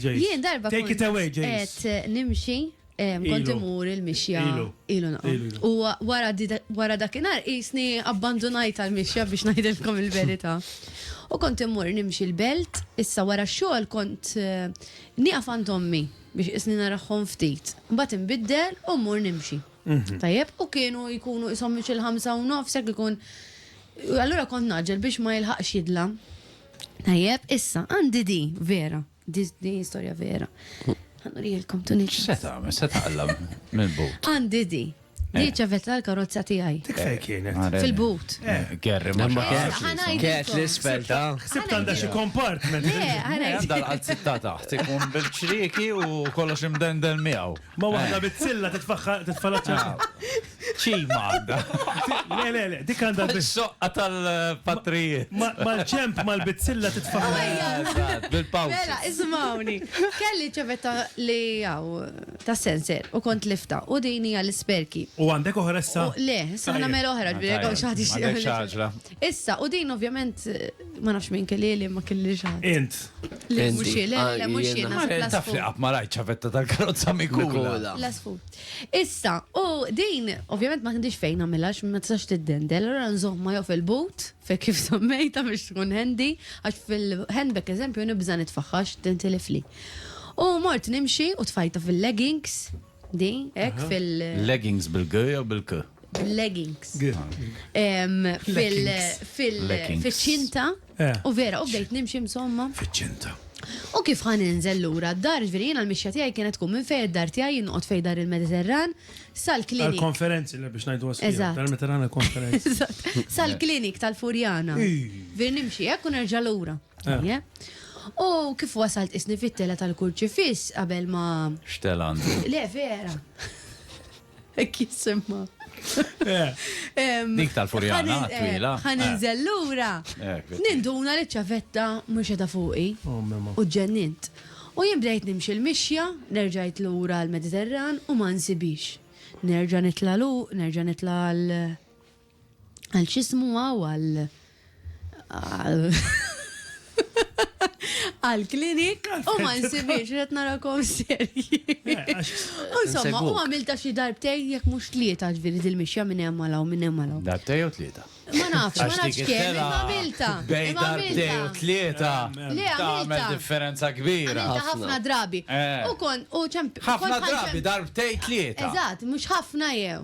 Jien darba kont qed nimxi kont imur il-mixja ilu naqgħod. U wara dakinhar qisni abbandunajt għall-mixja biex ngħidilkom il-verità. U kont imur nimxi l-belt, issa wara x-xogħol kont nieqaf għand ommi biex qisni narahhom ftit. Mbagħad inbiddel u mmur nimxi. Tajjeb, u kienu jkunu qishom mixi l-ħamsa u nofs jekk ikun. Allura kont ngħaġġel biex ma jilħaqx jidlam. Tajjeb, issa, għandi di, vera. Di di storja vera. Għanurijelkom tu nix. Se tagħmel, se taqlam mill-but. Għandi di. Di ċavet l-karozza tiegħi. Dik fejn kienet. Għarel. Fil-but. Gerri ma Imma xaqax. kien- Ħanajt Kienet ilkom. l-isfel ta' Sibt għandha xi compartment. Le, ħanajt. Għandha l-qalzitta taħt, ikun bil-ċrieki u kollox imdendel miegħu. Ma waħda bit-silla titfaħħa titfalaċċa. Ċima għandha. Le, le, le, dik għandha. Soqqa tal-patrijiet. Mal-ċemp, mal-bizzilla titfa' bil-pawċ. Mela, ismawni. Kelli ċevetta li għaw ta' sensor u kont lifta u dini għal-sperki. U għandek oħra issa? Le, issa għana mela oħra, ġbiri għaw xaħti xaħġra. Issa, u din ovvjament ma nafx minn kelli li ma kelli xaħġra. Int. Le, muxie, le, le, muxie. Taf li għab ma rajt ċavetta tal-karozza mikula. La sfut. Issa, u din ovvjament ma għandix fejn nagħmilha għax ma tistax tiddendel, allura nżommha jew fil-but, fejn kif semmejtha biex tkun handy, għax fil-handbag eżempju nibża' nitfagħha għax tintilifli. U mort nimxi u tfajtha fil-leggings, di, hekk fil-. Leggings bil-g jew bil-k? Bil-leggings. G. Fil-ċinta, U vera, u bdejt nimxi msomma. Fiċ-ċinta. U kif ħa ninżel lura d-dar, ġifieri jiena l-mixja tiegħi kienet tkun minn fejn id-dar tiegħi jien noqgħod fejn dar il-Mediterran sal-klinik. Għall-konferenzi li biex ngħiduha sħiħa. Eżatt. Dar il-Mediterran għall-konferenzi. Eżatt. Sal-klinik tal-Furjana. Ġifieri nimxi hekk u nerġa' lura. Ejja. U kif wasalt qisni fit-telgħa tal-kurċifiss qabel ma. X'telgħa għandi? Le, vera. Ek jisimma. Eh. Dik tal-furjana, twila. Għan eh. nżellura. Eh, Ninduna li ċavetta mux edha fuqi. Oh, u ġennint. U jien bdejt nimxi l-mixja, nerġajt lura l-Mediterran u ma nsibix. Nerġa nitla lu, nerġa nitla l- għal xismu għaw għal għal klinik u ma nsibiex qed narakom serji. Eh, Insomma, u għamilta xi darbtej jekk mhux tlieta ġviri dil-mixja minn hemm għalaw minn hemm għalaw. Darbtej u tlieta. Ma nafx, ma nafx kemm, imma għamilta. Bej darbtej u tlieta. Le, għamilta. differenza kbira. Għamilta ħafna drabi. Eh. U kon, u ċemp. Ħafna drabi, darbtej tlieta. Eżatt, mhux ħafna jew.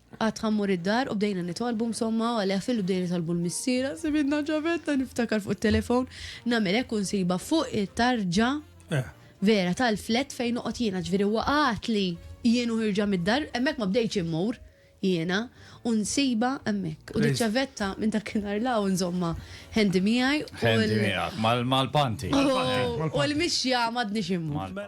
Qatt ħa mmur id-dar u bdejna nitolbu msomma u għalih fil-li bdejna nitolbu l-missiera sibitna ġabetna niftakar fuq it-telefon nagħmel hekk u nsibha fuq it-tarġa vera tal-flat fejn noqgħod jiena ġifieri huwa qagħadli jien u ħirġa mid-dar hemmhekk ma bdejtx immur jiena u nsibha hemmhekk u diċ-ċavetta minn dakinhar 'l hawn żommha handy miegħi u Handy miegħek mal-panti. u l-mixja m'għadnix immur.